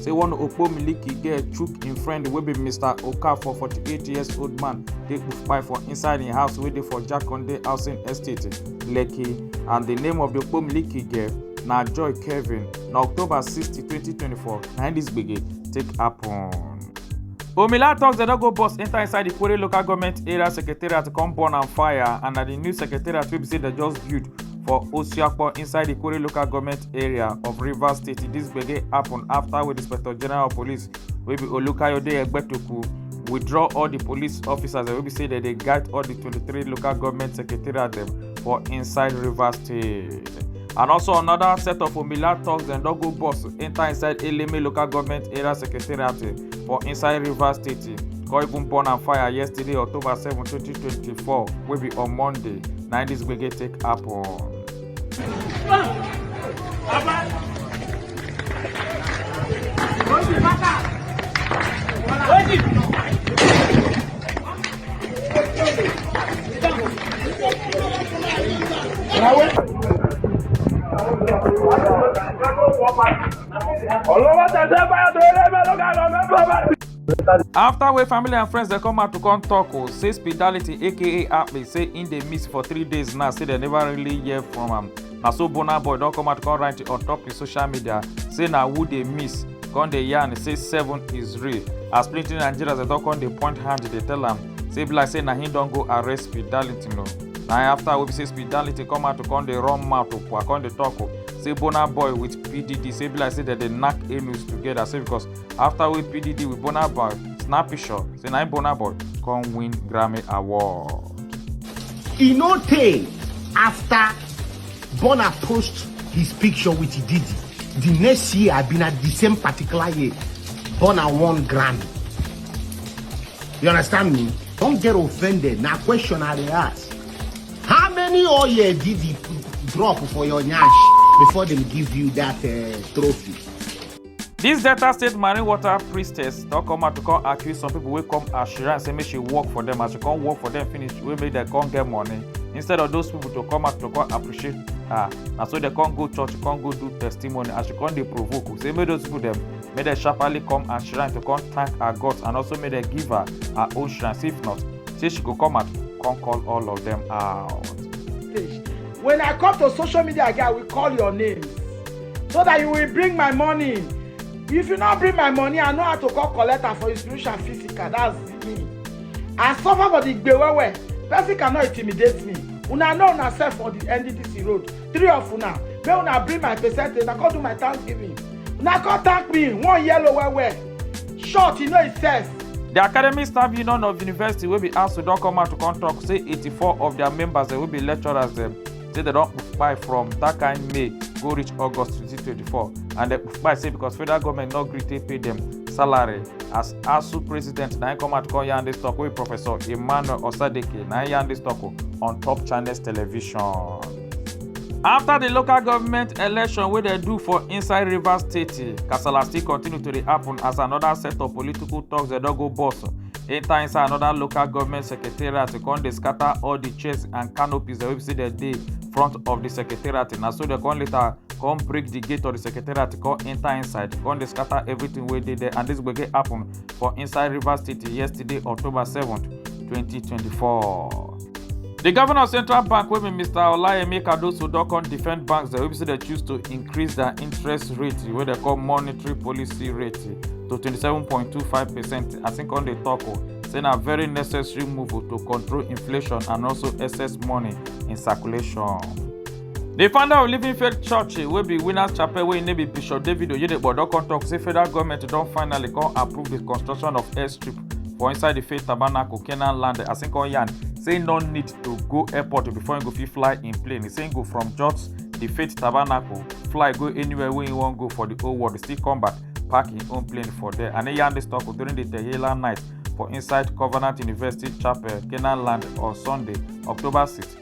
say one okpo miliki girl chook im friend wey be mr okafor 48 years old man take kpai for inside im house wey dey for jakonde housing estate lekki and di name of di okpo miliki girl na joy kevin na october 60 2024 na im dis gbege take happen. Omila talks dem no go bus enter inside the Kwere local government area secretariat come burn am fire and na the new secretariat wey be say dem just build for Osiakpo inside the Kore local government area of Rivers State. This gbege happen after with Inspector General of Police wey be Olukayode Egbetoku withdraw all the police officers wey be say dem dey guide all the 23 local government secretariat dem for inside Rivers State. And also another set of Omila thugs dem don go bus enter inside Eleme local government area secretariat for inside rivers state come even burn am fire yesterday october seven twenty twenty four wey be on monday na im dis gbege take happen. Bravo. after wey family and friends dey come out to come talk o oh, say spirituality aka akpi say im dey miss for three days now say dem never really hear from am na so burna boy don come out come write on top his social media say na who dey miss come dey yarn say seven is real as plenty nigerians dey don come dey point hand dey tell am say be like say na him don go arrest spirituality no na after wey be say spirituality come out to come dey run mouth to come dey talk o oh, say burna boy with pdd say be like say dem dey knack anus together say because after wey pdd with burna boy snappy shot say na burna boy come win grammy award. e no tey after burna post his picture with diddy the next year i bin at the same particular year burna won grammy you understand me don't get offended na question i dey ask How many oil did he drop for your nyash before them give you that uh, trophy? This Delta State Marine Water priestess don come out to come accuse some people wey come as Shira and say make she work for them as she come work for them finish wey make them come get money instead of those people to come out to come appreciate her na so dem come go church come go do testimony as she come dey provoke say make those people dem make dem sharparly come her shrine to come thank her gods and also make dem give her her own shrine say if not say she go come out come call all of them out. when i come to social media again i will call your name so that you will bring my money if you no bring my money i know how to come collect am for you spiritual and physical that's me i suffer for the gbe well well person cannot intimidate me una know una sef for the nddc road three of una make una bring my percentage una come do my thanksgiving una come thank me one yellow well well short e no e sense. di academic staff union of university wey be asu don come out to come tok say 84 of dia members wey be lecturers dem say dem don kpai from dat kain may go reach august 2024 and dem kpai say because federal goment no gree take pay dem salary as asu president na im come out come yarn dis tok wey professor emmanuel osadeke na im yarn dis tok on top channels television. afta di local government election wey dem do for inside rivers state kasala still continue to dey happun as anoda set of political toks dem don go burst enta inside anoda local government secretariat to come dey scata all di chairs and canopies dem wey be say dem dey front of di secretariat na so dem come later come break di gate of di secretariat come enta inside come dey scata evritin wey dey there and dis gbege happun for inside rivers state yesterday october seven twenty twenty four. di govnor of central bank wey be mr olayemi cardoso don come defend banks dem wey be say dem choose to increase dia interest rate wey dem call monetary policy rate to 27.25 percent as im come dey tok o say na very necessary move to control inflation and also excess money in circulation. di founder of living faith church wey be winners chapel wey im name be bishop david oyedepo don come tok say federal goment don finally come approve di construction of airstrip for inside the faith tabernacle canaan land as im come yarn say no need to go airport before im go fit fly in plane e say im go from just the faith tabernacle fly go anywhere wey im wan go for the whole world still come back park im own plane for there and e yarn dis talk during the tehila night for inside covenant university chapel canaan land on sunday october 6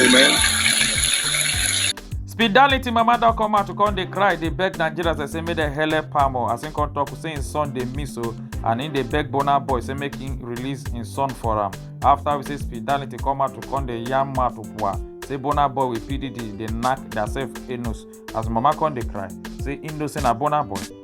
Amen. Spidality mama don come out to come dey cry dey beg Nigerians dey say make dem help am o as im come talk say im son dey miss o and im dey beg Burna Boy say make im release im son for am after we say Spidality come out to come dey yarn mouth bua say Burna Boy with PDD dey knack theirself anus as mama come dey cry say im know say na Burna Boy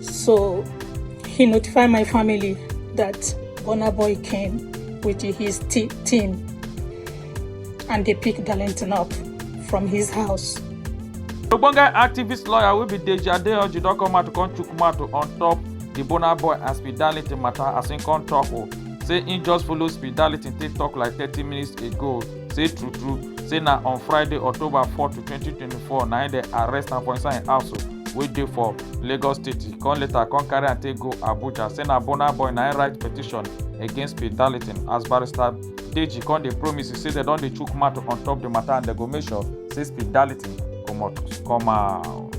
So he notified my family that Burna Boy came with his team and they picked Darlington up from his house. Ogbonge activist lawyer will be Deji Adeyanju don come out to come chook mouth on top the Burna Boy and Speed Darlington matter as im come talk o oh, say he just follow Speed Darlington take talk like thirty minutes ago. say true true say na on friday october 4 to 2024 na im dem arrest am for inside im house wey dey for lagos state e come later come carry am take go abuja say na burna boy na im write petition against peter darlington as barrister deji come dey promise say dem don dey chook mouth on top di matter and dem go make sure say peter darlington comot come out.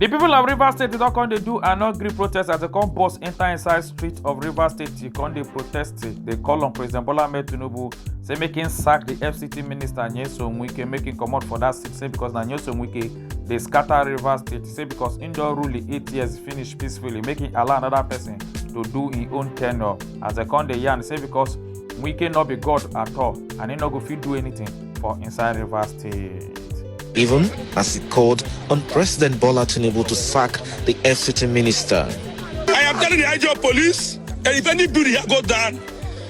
di pipo of rivers state don come dey do and no gree protest as dem come burst enta inside street of rivers state to come dey protest dey call on president bola ahmed tinubu say make im sack di fct minister nyesom wike make im comot for dat seat say becos na nyesom wike dey scatter rivers state say because im don rule im eight years finish peacefully make im allow another person to do im own tenure as dem come dey yarn say because wike no be god at all and im no go fit do anything for inside rivers state. even as he called on President Bola Tinubu to sack the FCT minister. I am telling the IG of police that if any building here go down,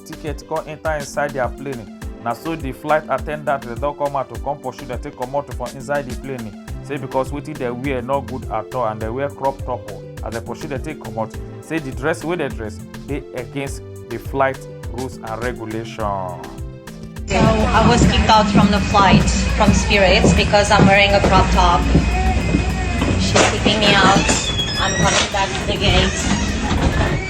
ticket come enter inside their plane na so the flight attendant dem don come out to come pursue dem take comot for inside the plane say because wetin dem wear no good at all and dem wear crop top oh, as dem pursue dem take comot say the dress wey dem dress dey against the flight rules and regulation. So I was kicked out from the flight from Spirits because I'm wearing a crop top. She's kicking me out. I'm coming back to the gate.